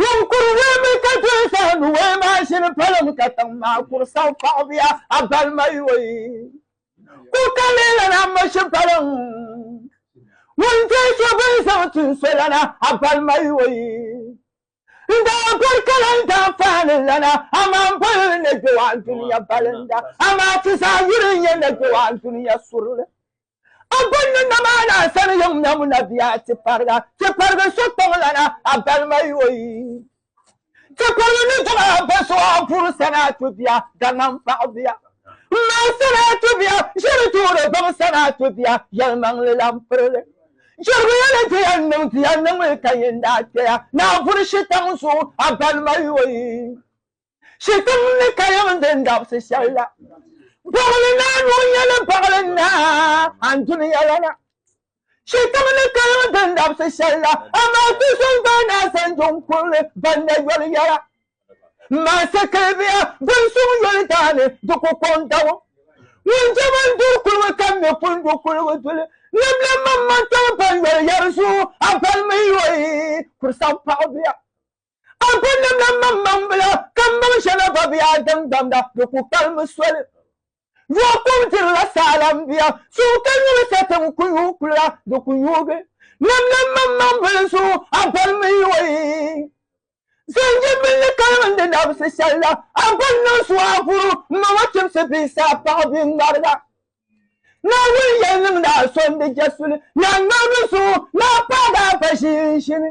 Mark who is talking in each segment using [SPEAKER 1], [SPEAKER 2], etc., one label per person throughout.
[SPEAKER 1] Ŋun kuri weemi ka doli saha ni wei maa shili palim katiŋ maa kuri sahu paɣibuya a balima yoi. Kuɣ ka leei lana a mashi paliŋ. Ŋun doli so bini zaŋ ti n so lana a balima yoi. N daa bɔri ka lan daa faani lana, amaa m boli li nɛgbɛwaan dunia balinda, amaa ti zaa yuri n-nyɛ nɛgbɛwaan dunia surili. A bɔn ni nam a ni a sani yiŋ mɛm o na bia ti pariga, ti parigi so kpaŋ lana a balima yoi. Ti parigi ni dɔɣi a ba so a buri sani a to bia, daŋan paɣi bia. M ma sani a to bia, ʒiri tuuri gbaŋ sani a to bia, yɛlimaŋli lan pirili. Jɛrigiya ni ti yɛn niŋ bia niŋmi ka yin daa kpɛya ni a buri shitaŋ zuɣu a balima yoi. Shikuru ni kayam n din dabsi shɛli la, baɣili naa ni o nya ni baɣili naa n duniya lana. Shikuru ni kayam n din dabsi shɛli la, amaa ti so n gbaai naa zaŋ juŋ kurili ban na yoli yɛla. M maansi kilibiya din suŋ yoli daani di ku kɔŋ dabo. Ŋun jɛm n duri kuligu ka m mi pun du kuligu duli, libila m maŋmaŋ tɔli ban yoli yɛri zuɣu, a balimi yoli kuri saŋ paɣibuya. A kuli nimla m-maŋmaŋ bila, ka m-maŋ shɛŋa gba be a daŋgbamda, di ku palimi soli. Yo kum dirila saala m-biya, suhu ka nyuli sa ti n ku yuui kuliga, di ku yuugi. Nimla m-maŋmaŋ bil zuɣu, a bɔri mi yoi. Zanji mini li kaligi n-di labisi shɛli la, a bɔri niŋ zuɣu a vuru m-maŋ a chimsi bee sa a paɣi bee ŋmariga. Naawuni yɛli niŋdi a so n-di jɛsuli, ni a ŋmarigu zuɣu, ni a paagi a ba ʒiinʒini.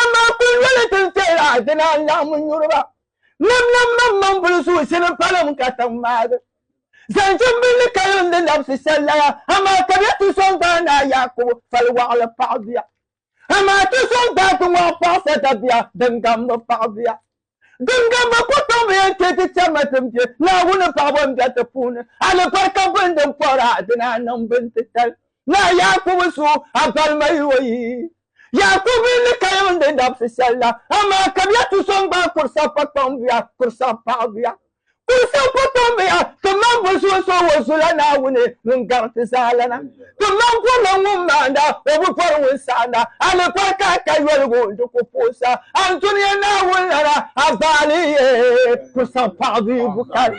[SPEAKER 1] Amaa kul yoli ti ni teei a ti naan laɣim n nyuri ba. Lamlam maŋmaŋ bili suhisi ni palim katiŋ maagi. Zaŋ chimbilli kalindi labisi sallaya, amaa ka bɛ ti sɔŋ gbaai naa Yaakubu fali waɣili paɣibuya. Amaa ti sɔŋ gbaai ti ŋɔɣu paɣisadabiya din gamdi paɣibuya. Giŋgam ba ku tom bi yɛn chɛ ti chɛma ti bɛ Naawuni paɣiba n bɛ ti puuni. Alibarika bini din pɔri a dini a niŋ bini titali. Naa Yaakubu suhu, a balima yi o yi. Yaakubu yi ni ka yɛm n-di dabisi shɛli la, amaa kabiya tu so n-gbaai kuri saha pakpaŋbuya, kuri saha paɣibuya. Kuli siɣi kɔtommiya ti maŋ bo so n-so o zula Naawuni ŋun gari ti zaa lana. Ti maŋ bɔrila ŋun maanda, o bi bɔri ŋun saɣinda. A ni pɔri ka a ka yoligu n-di ku puɣisa a ni Dunia Naawuni lana, a baali yi ku saŋ paɣibiigu kali.